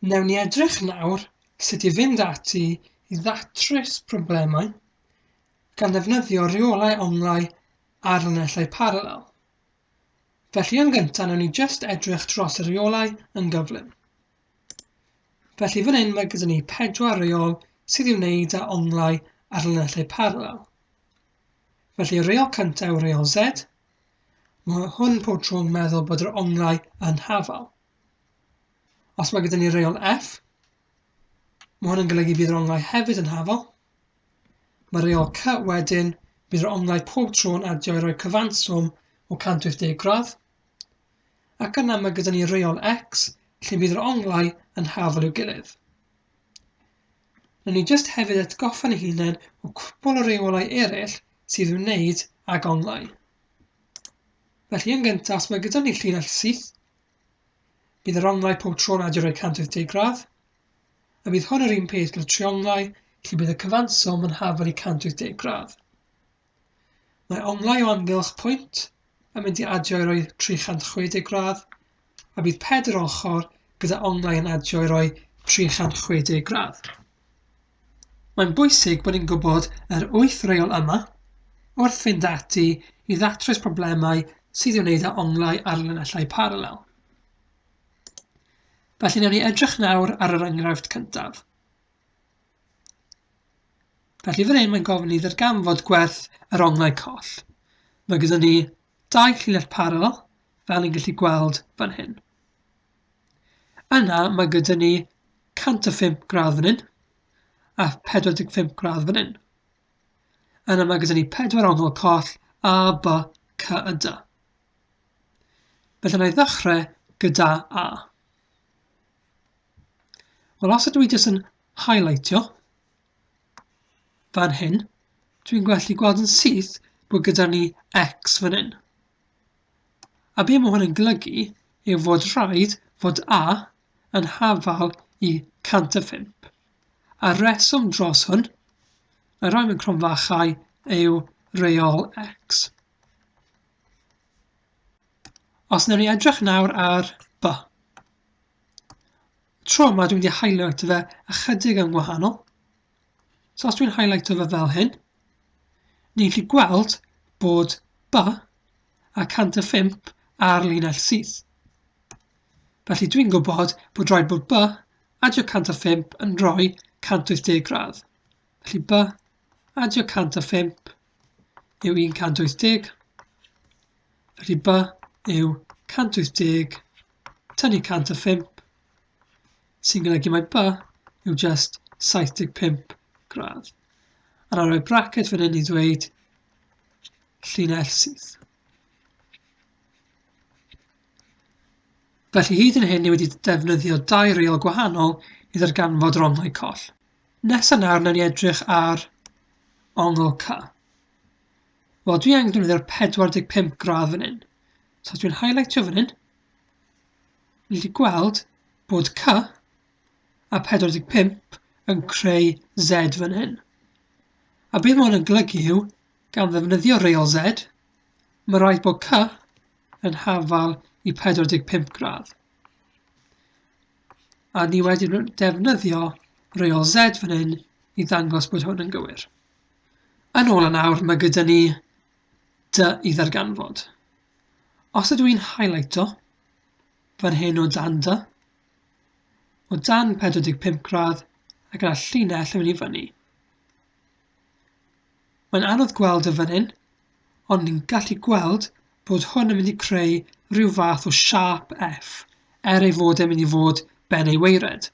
Wnewn ni edrych nawr sut i fynd ati i ddatrys problemau gan ddefnyddio rheolau onglau a llinellau parallel. Felly yn gyntaf wnewn ni jyst edrych dros y rheolau yn gyflym. Felly fan hyn mae gyda ni pedwar reol sydd i'w wneud â onglau ar llinellau parallel. Felly y reol cyntaf yw reol Z. Mae hwn pob tro'n meddwl bod yr onglau yn hafal. Os mae gyda ni reol f, mae hwn yn golygu bydd yr onglau hefyd yn hafol. Mae reol c wedyn, bydd yr onglau pob tro yn adio i roi cyfanswm o 180 gradd. Ac yna mae gyda ni reol x, lle bydd yr onglau yn hafol i'w gilydd. Rydyn ni jyst hefyd atgoffa'n ei hunain o cwpl o reolau eraill sydd i'w wneud ag onglau. Felly yn gyntaf, os mae gyda ni llinell syth, Bydd yr onglau pob tro'n adio rhoi 180 gradd, a bydd hwn yr un peth gyda trionglau lle bydd y cyfanswm yn hafel i 180 gradd. Mae onglau o amgylch pwynt yn mynd i adio i roi 360 gradd, a bydd pedr ochr gyda onglau yn adio i roi 360 gradd. Mae'n bwysig bod ni'n gwybod yr wyth reol yma wrth fynd ati i ddatrys problemau sydd i'w wneud â onglau ar linellau paralel. Felly newn ni edrych nawr ar yr enghraifft cyntaf. Felly fan hyn mae'n gofyn i ddarganfod gwerth yr onglau coll. Mae gyda ni dau llinell paralel, fel ni'n gallu gweld fan hyn. Yna mae gyda ni 105 gradd fan hyn a 45 gradd fan hyn. Yna mae gyda ni pedwar ongl coll A, B, C a D. Felly na i ddechrau gyda A. Wel, os ydw i jyst yn highlightio fan hyn, dwi'n gallu gweld yn syth bod gyda ni X fan hyn. A be mae hwn yn golygu yw fod rhaid fod A yn hafal i 105. A'r reswm dros hwn, na roi mewn cromfachau, yw reol X. Os newn ni edrych nawr ar B. Tro 'ma dwi mynd i highlighto fe ychydig yn wahanol. So os dwi'n highlighto fe fel hyn, ni'n gallu gweld bod ba a 105 ar linell syth. Felly dwi'n gwybod bod rhaid bod ba adio 105 yn rhoi 180 gradd. Felly ba adio 105 yw 180, felly by yw 180 tynnu 105, sy'n golygu mae by yw just 75 gradd. A na roi bracket fan hyn i ddweud llinell sydd. Felly hyd yn hyn ni wedi defnyddio dau reol gwahanol i ddarganfod rongau coll. Nesa nawr nawn ni edrych ar ongl ca. Wel dwi angen defnyddio'r 45 gradd fan hyn. So os dwi'n highlightio fan hyn, ni wedi gweld bod c a 45 yn creu z fan hyn. A beth mae hwn yn golygu yw, gan ddefnyddio reol z, mae rhaid bod c yn hafal i 45 gradd. A ni wedi defnyddio reol Z fan hyn i ddangos bod hwn yn gywir. Yn ôl yn awr, mae gyda ni dy i ddarganfod. Os ydw i'n highlighto fan hyn o dan dy, o dan 45 gradd ac yna llinell yn mynd i fyny. Mae'n anodd gweld e fan hyn, ond ni'n gallu gweld bod hwn yn mynd i creu rhyw fath o siâp F, er ei fod e'n mynd i fod ben ei weired.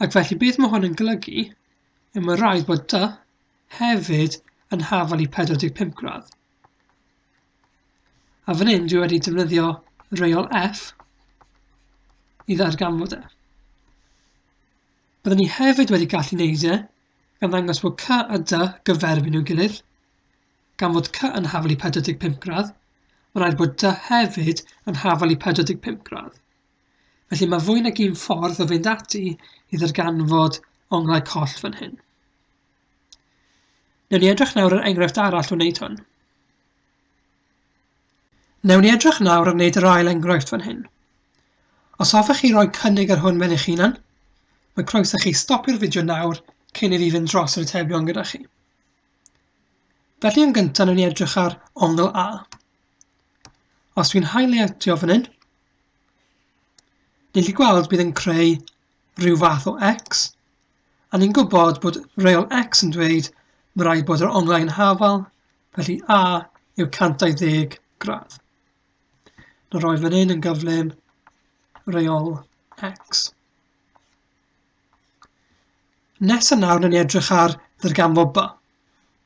Ac felly beth mae hwn yn golygu yw mae rhaid bod dy hefyd yn hafal i 45 gradd. A fan hyn dwi wedi defnyddio reol F i ddarganfod e. Byddwn ni hefyd wedi gallu neud e gan ddangos bod C a D gyferbyn i'w gilydd. Gan fod C yn hafal i 45 gradd, mae'n rhaid bod D hefyd yn hafal i 45 gradd. Felly mae fwy nag un ffordd o fynd ati i ddarganfod onglau coll fan hyn. Newn ni edrych nawr ar enghraifft arall o wneud hwn. Newn ni edrych nawr ar wneud yr ail enghraifft fan hyn. Os hoffech chi roi cynnig ar hwn mewn eich hunan, mae croeso chi stopio'r fideo nawr cyn i fi fynd dros yr atebion gyda chi. Felly yn gyntaf newn ni edrych ar ongl A. Os dwi'n highlightio fan hyn, ni'n gallu gweld bydd yn creu rhyw fath o X, a ni'n gwybod bod reol X yn dweud mae rhaid bod yr onglau yn hafal Felly A yw 120 gradd. Nawr roi fan hyn yn gyflym reol X. Nes yn nawr yn edrych ar ddirgamfo B.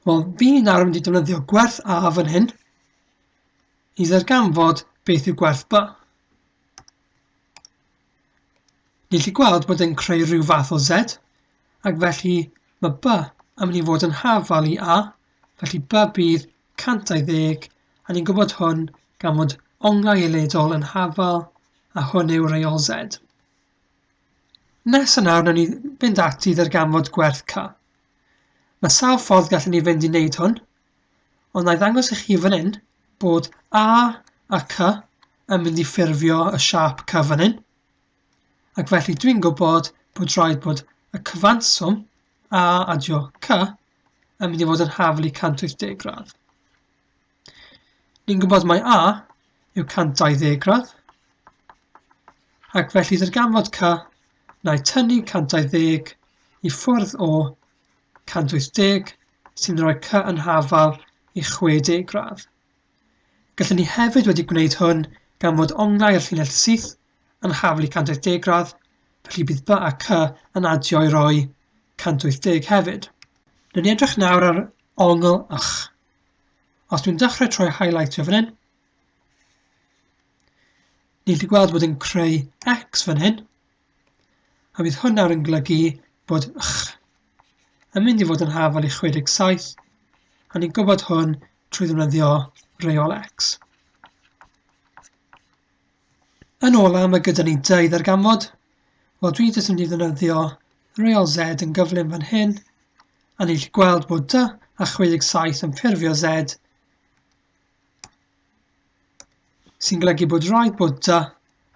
Wel, fi nawr yn mynd i defnyddio gwerth A fan hyn i ddirgamfod beth yw gwerth B. Ni'n lli gweld bod e'n creu rhyw fath o Z, ac felly mae B yn mynd i fod yn hafal i A, felly ba bydd 120, a ni'n gwybod hwn gan fod onglau eledol yn hafal, a hwn yw reol Z. Nes yna, wnawn ni fynd ati i ddarganfod gwerth K. Mae sawl ffordd gallwn ni fynd i wneud hwn, ond na i ddangos i chi fan hyn bod A a C yn mynd i ffurfio y siap C fan hyn, ac felly dwi'n gwybod bod rhaid bod y cyfanswm A adio K yn mynd i fod yn haflu 180 gradd. Ni'n gwybod mae A yw 120 gradd, ac felly darganfod K na i tynnu 120 i ffwrdd o 180 sy'n rhoi cy yn hafal i 60 gradd. Gallwn ni hefyd wedi gwneud hwn gan fod onglau y llinell syth yn haflu 180 gradd, felly bydd by ac y yn adio i roi 180 hefyd. Dwi'n edrych nawr ar ongl ych. Os dwi'n dechrau troi highlightio fan hyn, ni'n gallu gweld bod yn creu x fan hyn, a bydd hwn nawr yn golygu bod ych yn mynd i fod yn hafal i 67, a ni'n gwybod hwn trwy ddefnyddio reol x. Yn ola, mae gyda ni dau ddarganfod. Wel, dwi jyst yn mynd i ddefnyddio reol Z yn gyflym fan hyn, a ni'n gallu gweld bod dy a 67 yn ffurfio Z, sy'n golygu bod rhaid bod dy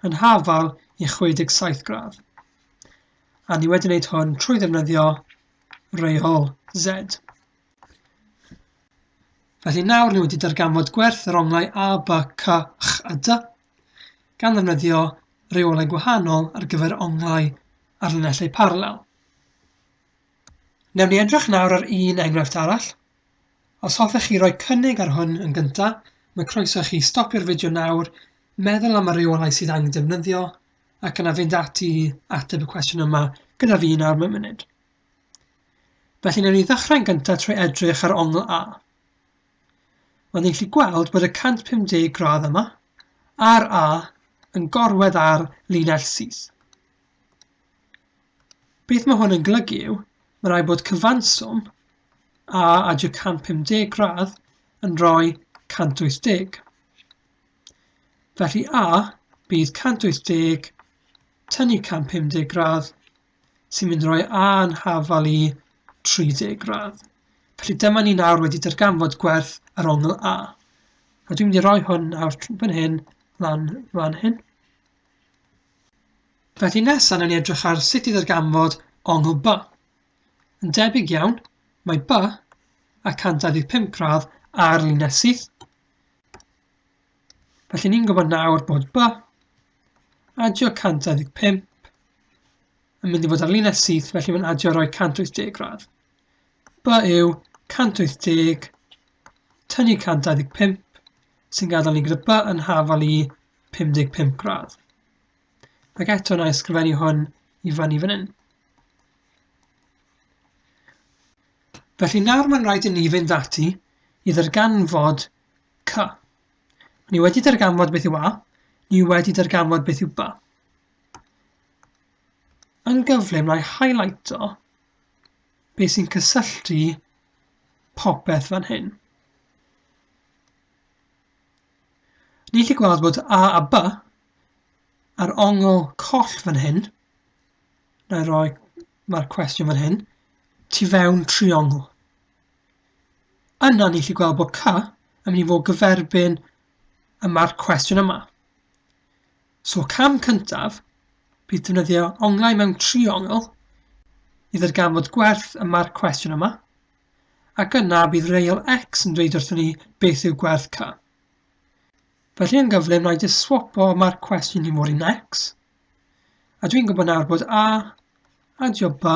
yn hafal i 67 gradd. A ni wedi wneud hwn trwy ddefnyddio reol Z. Felly nawr ni wedi darganfod gwerth yr onglau A, B, C, X a D gan ddefnyddio reolau gwahanol ar gyfer onglau ar linellau parallel. Newn ni edrych nawr ar un enghraifft arall. Os hoffech chi roi cynnig ar hwn yn gyntaf, mae croeso i chi stopio'r fideo nawr, meddwl am y reolau sydd angen defnyddio, ac yna fynd ati i ateb y cwestiwn yma gyda fi nawr mewn munud. Felly newn ni ddechrau'n gyntaf trwy edrych ar ongl A. Ond ni'n gallu gweld bod y 150 gradd yma a'r A yn gorwedd ar linell syth. Beth mae hwn yn golygu yw, mae rhaid bod cyfanswm A a j 150 gradd yn rhoi 180. Felly A bydd 180 tynnu 150 gradd sy'n mynd roi a'n hafal i 30 gradd. Felly dyma ni nawr wedi darganfod gwerth yr ongl A. A dwi'n mynd i roi hwn nawr fan hyn, lan fan hyn. Felly nesaf, na ni edrych ar sut i ddarganfod ongl B. Yn debyg iawn, mae B a 125 gradd ar linell syth. Felly ni'n gwybod nawr bod by adio 125 yn mynd i fod ar linell syth, felly mae'n adio roi 180 gradd. By yw 180 tynnu 125 sy'n gadael ni gyda by yn hafal i 55 gradd. Ac eto na ysgrifennu hwn i fan i fan hyn. Felly nawr mae'n rhaid i ni fynd ati i ddarganfod C. Ni wedi darganfod beth yw A, ni wedi darganfod beth yw ba. Yn gyflym, rhaid highlighto beth sy'n cysylltu popeth fan hyn. Ni chi gweld bod A a B ar ongl coll fan hyn. Na i roi, mae'r cwestiwn fan hyn, tu fewn triongl. Yna ni chi gweld bod ca yn mynd i fod gyferbyn y mae'r cwestiwn yma. So cam cyntaf bydd defnyddio onglau mewn triongl i ddarganfod gwerth y mae'r cwestiwn yma, ac yna bydd reol x yn dweud wrthyn ni beth yw gwerth ca. Felly yn gyflym na i jyst swapo mae'r cwestiwn i fod yn x, a dwi'n gwybod nawr bod a a job b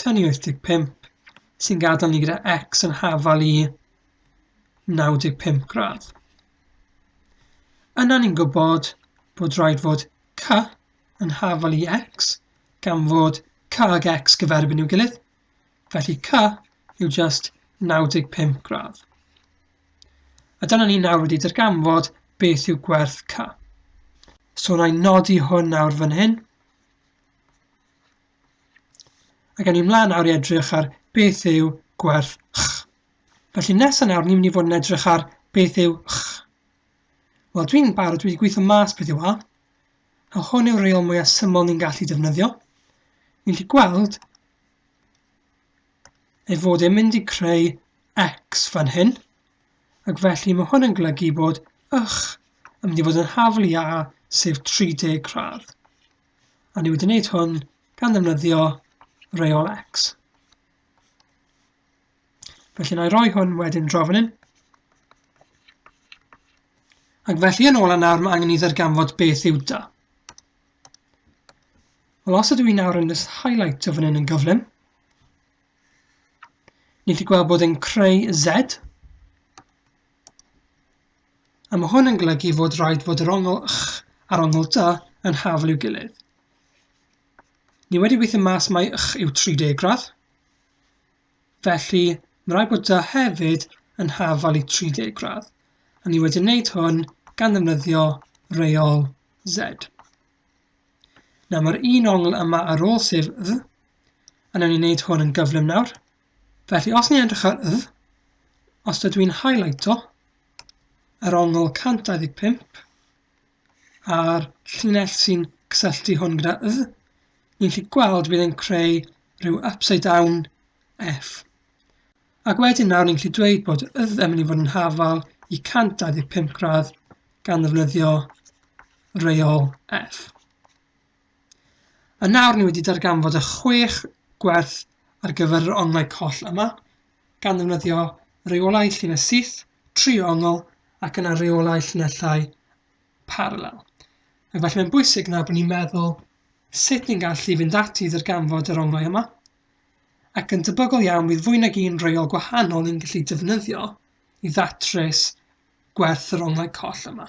Tŷ ni 85, sy'n gadael ni gyda X yn hafal i 95 gradd. Yna ni'n gwybod bod rhaid fod C yn hafal i X, gan fod C ag X gyferbyn i'w gilydd, felly C yw just 95 gradd. A dyna ni nawr wedi darganfod beth yw gwerth C. So na i nodi hwn nawr fan hyn. Ac o'n i'n mlaen nawr i edrych ar beth yw gwerth ch. Felly nesaf nawr ni'n mynd i fod yn edrych ar beth yw ch. Wel, dwi'n barod, dwi wedi gweithio mas beth yw a, a hwn yw'r reol mwyaf syml ni'n gallu defnyddio. Ni'n gallu gweld ei fod e'n mynd i creu x fan hyn, ac felly mae hwn yn golygu bod ych yn mynd i fod yn haflu a sef 30 gradd. A ni wedi wneud hwn gan ddefnyddio reol x. Felly na i roi hwn wedyn draw fan hyn. Ac felly yn ôl nawr mae angen i ddarganfod beth yw da. Wel os ydw i nawr yn just highlight o fan hyn yn gyflym, ni chi gweld bod yn creu Z A ma' hwn yn golygu fod raid fod yr ongl ch a'r ongl dy yn hafl i'w gilydd. Ni wedi gweithio mas mai ch yw 30 gradd, felly mae rhaid bod dy hefyd yn hafal i 30 gradd. A ni wedi wneud hwn gan ddefnyddio reol Z. Nawr mae'r un ongl yma ar ôl sef dd, a newn ni wneud hwn yn gyflym nawr. Felly os ni'n edrych ar y, os dydw i'n highlighto yr ongl 125 a'r llinell sy'n cysylltu hwn gyda y, ni'n gallu gweld bydd e'n creu rhyw upside down F. Ac wedyn nawr ni'n gallu dweud bod y yn mynd i fod yn hafal i 125 gradd gan ddefnyddio reol F. Yn awr ni wedi darganfod y chwech gwerth ar gyfer yr onglau coll yma, gan ddefnyddio reolau llinell syth, tri ongl, ac yna reolau llinellau parallel. Ac felly mae'n bwysig na bod ni'n meddwl sut ni'n gallu fynd ati i ddarganfod yr onglau yma, ac yn debygol iawn bydd fwy nag un reol gwahanol ni'n gallu defnyddio i ddatrys gwerth yr onglau coll yma.